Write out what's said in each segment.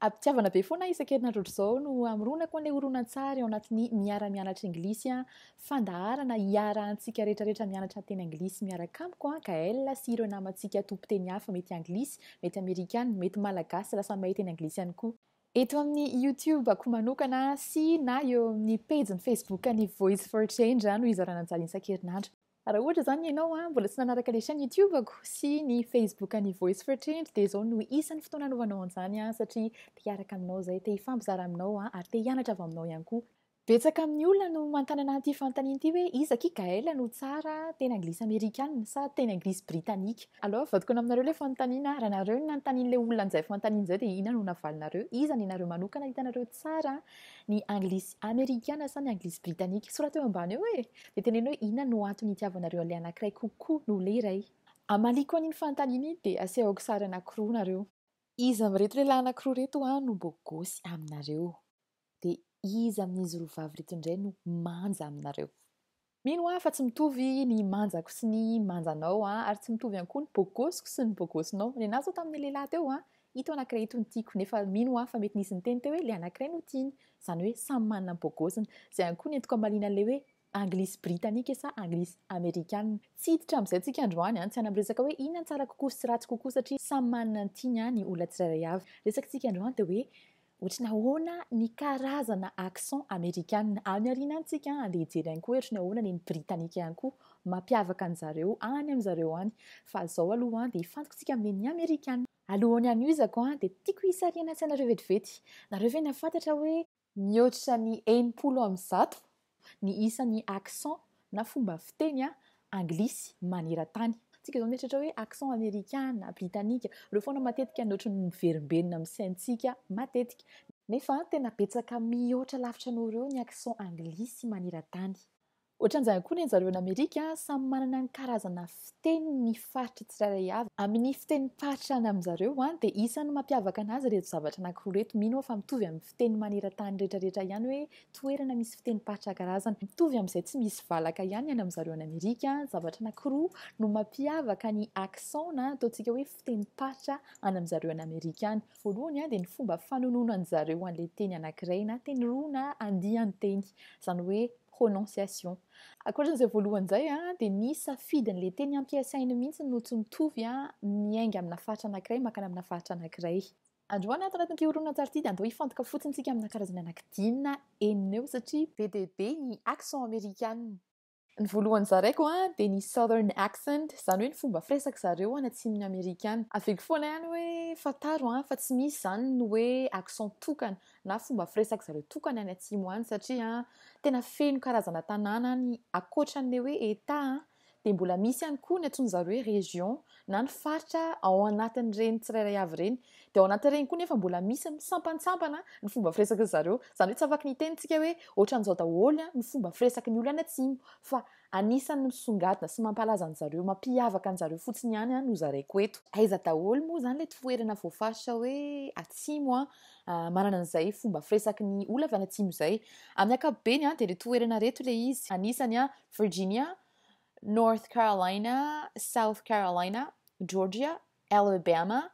Apitiavana be foana isan-kerinandro ohatr'izao no amoronako an'ilay horonantsary ao anatin'ny miara-mianatra Anglisy fandaharana hiarahantsika rehetrarehetra mianatra teny Anglisy miaraka amiko an, Gaël sy ireo namantsika tompon-teny hafa mety Anglisy, mety Amerikana, mety Malagasy lasa mahay teny Anglisy ihany koa. Eto amin'ny YouTube-ko manokana sy na eo amin'ny pejy ny Facebook-n'ny Voice for Change no hizarana an'izany isan-kerinandro. Raha ohatra izany ianao an, mbola tsy nanaraka ilay chaîne YouTube-ko sy ny Facebook an'ny Voice for Change dia izao no isan'ny fotoana hanaovanao an'izany an, satria te hiaraka aminao izay, te hifampizara aminao an, ary te hianatra avy aminao ihany koa. Betsaka amin'ny olona no mantanana an'ity fanontaniana ity hoe iza akia Gaëlle no tsara, teny anglisy amerikana sa teny anglisy britanika? Aloha avadikona aminareo ilay fanontaniana, raha nareo no nanontanian'ilay olona an'izay fanontaniana izay dia inona no navalinareo? Iza ny nareo manokana hitanareo tsara, ny anglisy amerikana sa ny anglisy britanika? Soraty eo ambany eo e! Dia teneno hoe inona no antony itiavanareo an'ilay anankiray kokoa noho ilay iray. Amaliako an'iny fanontaniana iny dia asehoko sary anankiroa nareo. Iza amin'ireto lehilahy anankiroa ireto no bogosy aminareo? Dia iza amin'izy roa vavy ireto indray no manja aminareo? Mino aho fa tsy mitovy ny manjako sy ny manjanao ary tsy mitovy ihany koa ny bogosiko sy ny bogosinao. Nenazy aho tamin'ny lehilahy teo Ito anankiray ito no tiako, nefa mino aho fa mety nisy niteny teo hoe ilay anankiray no tiany. Izany hoe samy manana ny bôgôziny. Izay ihany koa ny antoko hamaliana an'ilay hoe Anglisy Britanike sa Anglisy Amerikana. Tsy hiditra amin'izay antsika androany an, tsy hanam resaka hoe inona no tsara kokoa sy ratsy kokoa satria samy manana ny tiany an ny olona tsirairay avy. Resakitsika androany dia hoe Ohatry ny ahoana ny karazana accent amerikanina any aoriana any tsika an, andeha hijery ihany koa ohatry ny ahoana ny britanika ihany koa mampiavaka an zareo any an zareo any fa zao aloha an dia fantiko tsika amin'ny ny amerikanina. Alohan'ny hanohizako an dia tiako hisarihana an-tsainareo vetivety, nareo ve nahafantatra hoe mihoatra ny enimpolo amin'ny zato Ny isan'ny accent na fomba fiteny anglisy maneran-tany. Tsika izao mieritreritra hoe accent amerikana, britanika. Ireo foana matetika no ohatran'ny miverimberina amin'ny saintsika matetika. Nefa tena betsaka mihoatra lavitra noho ireo ny accent anglisy maneran-tany. Ohatran'izany koa ny anjareo any Amerika, samy manana ny karazana fiteniny ny faritra tsirairay avy. Amin'ny fitenim-paritra any aminjareo dia isan'ny mampiavaka anazy ireto zavatra anankiroa ireto. Mino aho fa mitovy amin'ny fiteny maneran-tany rehetrarehetra ihany hoe toerana misy fitenim-paritra karazana mitovy amin'izay tsy misy valaka ihany any amin-dry zareo any Amerika, zavatra anankiroa no mampiavaka ny accents na ataontsika hoe fitenim-paritra any amin-dry zareo any Amerika any. Voalohany dia ny fomba fanononandry zareo an'ilay teny anankiray na teny roa na andian-teny, izany hoe prononciation. Ankoatran'izay voalohany izay dia ny safidin'ilay teny ampiasainy mihitsy no tsy mitovy miainga amina faritra anankiray mankany amina faritra anankiray. Androany ato anatin'ity horonantsary ity dia andao hifantoka fotsiny tsika amina karazana anakidina enina eo satria be dia be ny accent amerikanina. Ny voalohany zaraiko dia ny southern accent, izany hoe ny fomba firesaka zareo any atsimon'i Amerika any. Haviko foana ihany hoe fantaro fa tsy misy izany ny hoe accent tokana na fomba firesaka zareo tokana any atsimo any satria tena feno karazana tanàna any ankoatran'ilay hoe Etat an! dia mbola misy ihany koa ny antsoin-dry zareo hoe région na ny faritra ao anatin'ireny tsirairay avy ireny. Dia ao anatin'ireny koa nefa mbola misy misampantsambana ny fomba firesak'izy zareo. Izany hoe tsy afaky ny hiteny isika hoe ohatran'izao daholo ny fomba firesaky ny olona any atsimo fa anisan'ny misongadina sy mampalaza an-dry zareo, mampiavaka an-dry zareo fotsiny ihany no zaraiko eto. Aiza daholo moa izany ilay toerana voafaritra hoe atsimo manana an'izay fomba firesaky ny olona avy any atsimo izay? Amin'ny ankapobeny dia ireo toerana ireto ilay izy. Anisan'ny Virginia, North Carolina, South Carolina, Georgia, Alabama,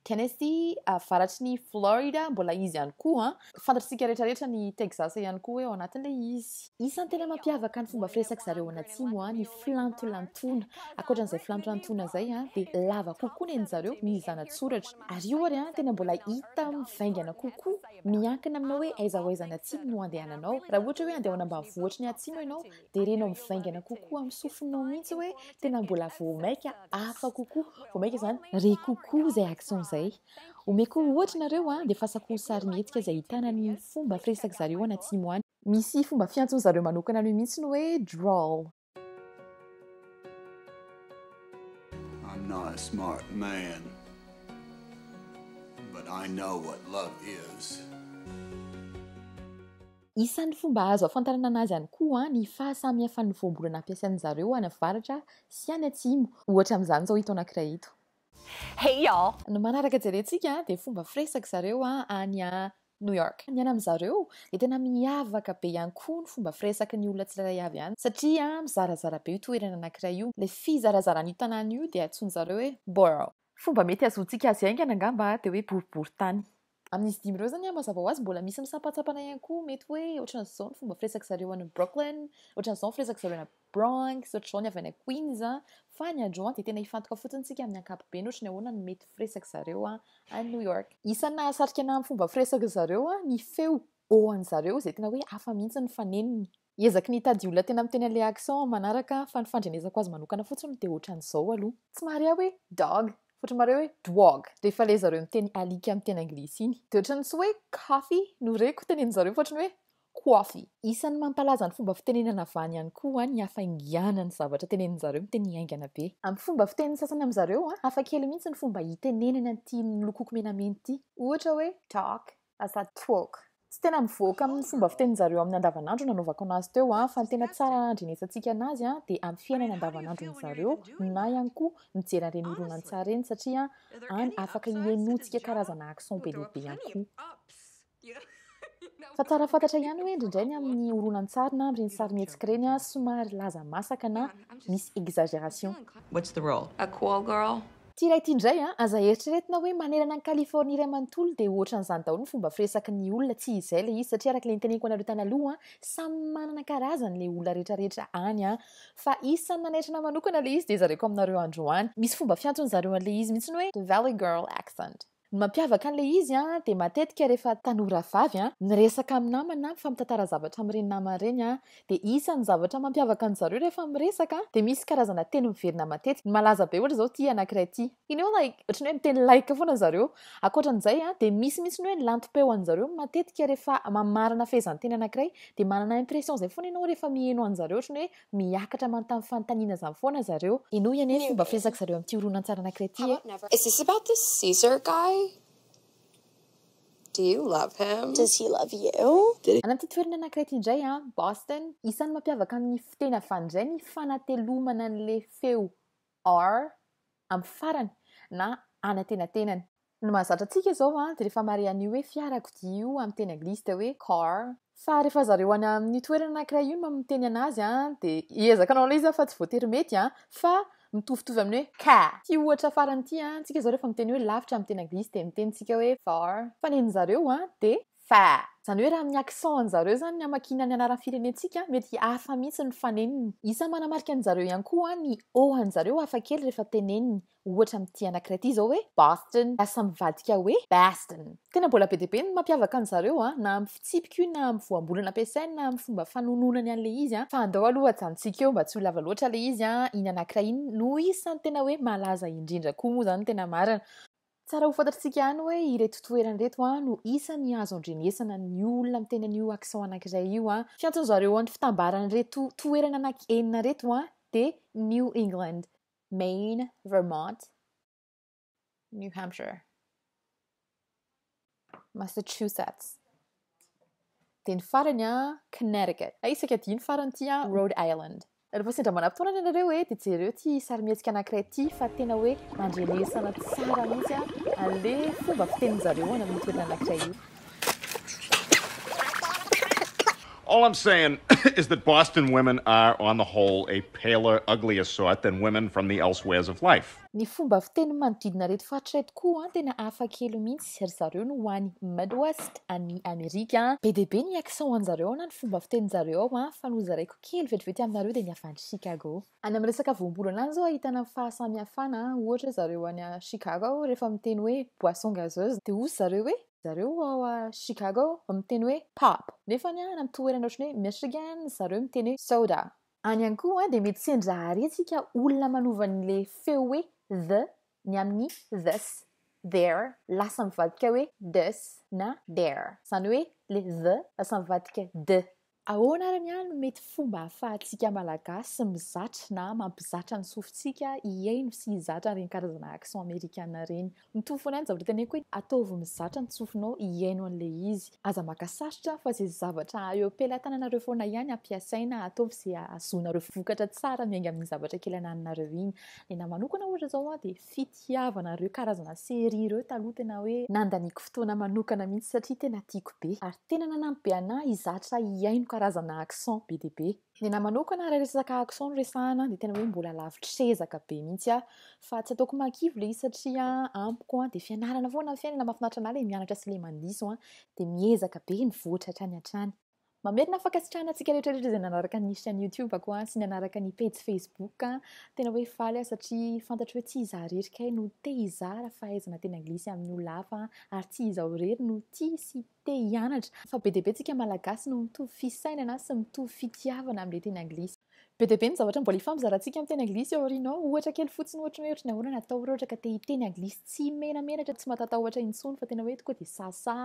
Tennessee, avaratry ny Florida mbola izy ihany koa. Fantatr'isika rehetrarehetra ny Texas ihany koa hoe ao anatin'ilay izy. Isan'ny tena mampiavaka ny fomba firesak'i zareo any atsimo ny filantolantoana. Ankoatran'izay filantolantoana izay dia lava kokoa ny an'i zareo ny zanatsoratra. Ary io ary tena mbola hita mivaingana kokoa. Miankina aminao hoe aiza ho aiza any atsimo no andehananao. Raha ohatra hoe andeha ho any ambanivohitry ny atsimo ianao dia renao mivaingana kokoa amin'ny sofinao mihitsy hoe tena mbola vao maika hafa kokoa, vao maika izany, re kokoa izay accent izay. Omeko ohatra nareo an, dia fasako ho sarimihetsika izay ahitana ny fomba firesak'zareo any atsimo any. Misy fomba fiantson'zareo manokana an'io mihitsy ny hoe drawl. I'm not a smart man, but I know what love is. Isan'ny fomba azo ahafantarana anazy ihany koa ny fahasamihafan'ny voambolana ampiasain'ny zareo any avaratra sy any atsimo, ohatra amin'izany izao ito anankiray ito. Hey y'all! Ny manaraka jerentsika dia fomba firesaka zareo any New York. Ny any amin-dry zareo dia tena miavaka be ihany koa ny fomba firesaky ny olona tsirairay avy any satria mizarazara be io toerana anankiray io. Ilay fizarazaran'io tanàna io dia antsoin-dry zareo hoe borough. Fomba mety hahazoantsika azy haingana angamba dia hoe boriborintany. Amin'izy dimy ireo izany, mazava ho azy, mbola misy misampantsampana ihany koa. Mety hoe ohatran'ny izao ny fomba firesak'i zareo any Brooklyn, ohatran'ny izao ny firesak'i zareo any Bronx, ohatr'izao ny avy any Queens. Fa ny androany dia tena hifantoka fotsiny isika amin'ny ankapobeny ohatry ny ahoana ny mety firesak'i zareo any New York. Isan'ny nahasarika anahy amin'ny fomba firesak'i zareo ny feo oan'i zareo izay tena hoe hafa mihitsy ny fanenony. Ezaky ny hitady olona tena miteny an'ilay accent aho manaraka aho fa ny fandrenesako azy manokana fotsiny dia ohatran'izao aloha. Tsy mahare aho hoe dog fa ohatran'ny mahare hoe dwog rehefa ilay zareo miteny alika amin'ny teny anglisy iny. Dia ohatran'ny tsy hoe coffee no reko tenenin'zareo fa ohatran'ny hoe coify. Isan'ny mampalaza ny fomba fitenenana avy any ihany koa ny hafainganan'ny zavatra tenenin'zareo miteny haingana be. Amin'ny fomba fitenin'ny sasany amin'zareo hafakely mihitsy ny fomba itenenany an'ity nolokoiko menamena ity. Ohatra hoe talk, Aza troka. Tsy tena mivoaka amin'ny fomba fiteninjareo amin'ny andavanandro nanaovako anazy teo an, fa ny tena tsara handrenesantsika anazy an dia amin'ny fiainana andavanandron'zareo na ihany koa mijery an'ireny horonantsary ireny satria any afaka hienotsika karazana action be dia be ihany koa. Fa tsara fantatra ihany hoe indraindray ny amin'ny horonantsary na amin'ireny sarimihetsika ireny an somary laza masaka na misy exagération. What's the role? A call girl? Ity iray ity indray an! Aza eritreretina hoe manerana an'i Californie iray manontolo dia ohatran'izany daholo ny fomba firesaky ny olona, tsy izay ilay izy satria araka ilay noteneniko anareo tanaloha an! samy manana karazany ilay olona rehetra rehetra any an! fa isan'ny nanaitra anah manokana ilay izy dia zareko aminareo androany, misy fomba fiantsony zareo an'ilay izy mihitsy hoe the valley girl accent. Ny mampiavaka an'ilay izy dia matetika rehefa tanora vavy miresaka amin'ny namany na mifampitantara zavatra amin'ireny namany ireny dia isan'ny zavatra mampiavaka an-dry zareo rehefa miresaka dia misy karazana teny miverina matetika. Ny malaza be ohatra izao ity anankiray ity. Iny hoe like, ohatran'ny hoe miteny like foana ry zareo. Ankoatran'izay dia misy mihitsy ny hoe lantom-peo an-dry zareo matetika rehefa mamarana fehezanteny anankiray dia manana impression izay foana ianao rehefa miheno an-dry zareo ohatran'ny hoe Miakatra manontany fanontaniana izany foana zareo. Henoy anie ny fomba firesaka zareo amin'ity horonantsary anankiray ity e. Is this about this Caesar guy? Do you love him? Does he love you? Any amin'ity toerana anankiray ity indray an, Boston, isan'ny mampiavaka amin'ny fiteny avy any indray ny fanatelomana an'ilay feo Or, amin'ny farany, na any antenatenany. Ny mahazatra antsika izao dia rehefa mare an'io hoe fiarakodia io amin'ny teny anglisy dia hoe car, fa rehefa zareo any amin'io toerana anankiray io no miteny an'azy dia hiezaka hanao an'ilay izy aho fa tsy voatery mety fa mitovitovy amin'ny hoe car. Ity ohatra farany ity, antsika izao rehefa miteny hoe lavitra amin'ny teny anglisy dia miteny tsika hoe far, fa ny an'zareo dia. Fa. Izany hoe raha amin'ny accent an'i zareo izany ny hamakiana ny anaran'ny firenentsika, mety hafa mihitsy ny faneniny. Isa manamarika an'i zareo ihany koa ny O an'i zareo hafa kely rehefa teneniny. Ohatra amin'ity anankiray ity izao hoe Boston, lasa mivadika hoe Baston. Tena mbola be dia be ny mampiavaka an'i zareo, na amin'ny fitsipika io, na amin'ny voambolana ampiasainy, na amin'ny fomba fanononany an'ilay izy. Fa andao aloha ajanontsika eo mba tsy ho lava loatra ilay izy, iny anankiray iny no isan'ny tena hoe malaza indrindra koa moa izany ny tena marina. Tsara ho fantatr'tsika any hoe ireto toerana ireto an no isan'ny azo andrenesana ny olona miteny an'io accent anankiray io an. Fiantso an'zareo an'ny fitambaran'ireto toerana anaky enina ireto an de New England, Maine, Vermont, New Hampshire. Massachusetts. Dia ny farany an, Connecticut. Hay isaka dimy farany ity an, Rhode Island. Rehefa sendra manam-potoana ianareo hoe dia jereo ity sarimihetsika anankiray ity fa tena hoe mandrenesana tsara mihitsy an'le fomba fitenin-jareo any amin'ny toerana anankiray io. All I'm saying is that Boston women are on the whole a paler, uglier sort than women from the elsewheres of life. Ny fomba fiteny manodidina ireto faritra ireto koa tena hafa kely mihitsy, ry zareo no any Midwest any Amerika. Be dia be ny accent-any zareo na ny fomba fiteny zareo ao fa nozaraiko kely vetivety aminareo dia ny avy any Chicago. Any amin'ny resaka voambolana any izao ahitana ny fahasamihafana, ohatra ry zareo any Chicago ao rehefa miteny hoe boisson gazeuse dia hoy ry zareo hoe, zareo ao Chicago miteny hoe pop nefa any amin'ny toerana ohatran'ny hoe Michigan ry zareo miteny hoe soda Any ihany koa dia mety sendra harentsika olona manova ny le feo hoe the ny amin'ny this, their, lasa mivadika hoe this na their. Izany hoe le the lasa mivadika the. Ahoana ary ny ahy no mety fomba ahafahantsika Malagasy mizatra na mampizatra ny sofintsika hihaino sy hizatra ireny karazana accent amerikana ireny? Mitovy foana ihany zavatra teneniko hoe ataovy mizatra ny tsofinao hihaino an'ilay izy. Aza maka sarotra fa izay zavatra eo am-pelatananareo foana ihany ampiasaina, ataovy izay ahazoanareo vokatra tsara miainga amin'iny zavatra kely ananinareo iny. Ny anahy manokana ohatra izao an dia fitiavana ireo karazana série ireo taloha tena hoe nandaniako fotoana manokana mihitsy satria tena tiako be ary tena nanampy be anahy hizatra hihaino karazana accent be dia be. Ny anahy manokana raha resaka accent no resahana dia tena hoe mbola lavitr'ezaka be mihitsy aho fa tsy ataoko mahakivy ilay izy satria amiko dia fianarana foana ny fiainana, mahafinaritra an'ahy ilay mianatra sy ilay mandiso dia miezaka be mivoatra hatrany hatrany. Mamerina fankasitrahana antsika rehetra rehetra izay nanaraka ny chaîne YouTube ko sy nanaraka ny pejy Facebook an! Tena hoe faly aho satria fantatro hoe tsy izaho irery kay no te hizara fahaizana teny anglisy amin'ny olona hafa ary tsy izaho irery no tia sy te hianatra fa be dia be tsika malagasy no mitovy fisainana sy mitovy fitiavana amin'ilay teny anglisy. Be dia be ny zavatra mbola hifampizarantsika amin'ny teny anglisy ao aoriana ao. Ohatra kely fotsiny ohatra hoe ohatry ny ahoana ny atao raha ohatra ka te hiteny anglisy tsy menamenatra, tsy matatahotra intsony fa tena hoe tokoa dia sasa,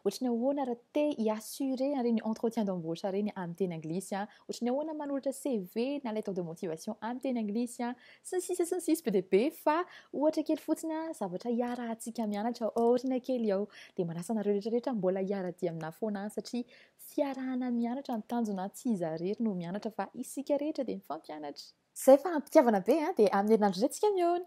ohatry ny ahoana raha te hi-assurer an'ireny entretien d'embauche ireny amin'ny teny anglisy an. Ohatry ny ahoana manoratra CV na lettre de motivation amin'ny teny anglisy an, sy ny sisa sy ny sisa be dia be fa ohatra kely fotsiny an, zavatra hiarahantsika mianatra ao aoriana kely ao. Dia manasa anareo rehetra rehetra mbola hiara-dia aminà foana an, satria fiarahana mianatra no tanjona an, tsy iza irery no mianatra fa isika rehetra dia mifampianatra. Izay fa am-pitiavana be an, dia amin'ny herinandro indray tsika mihaona.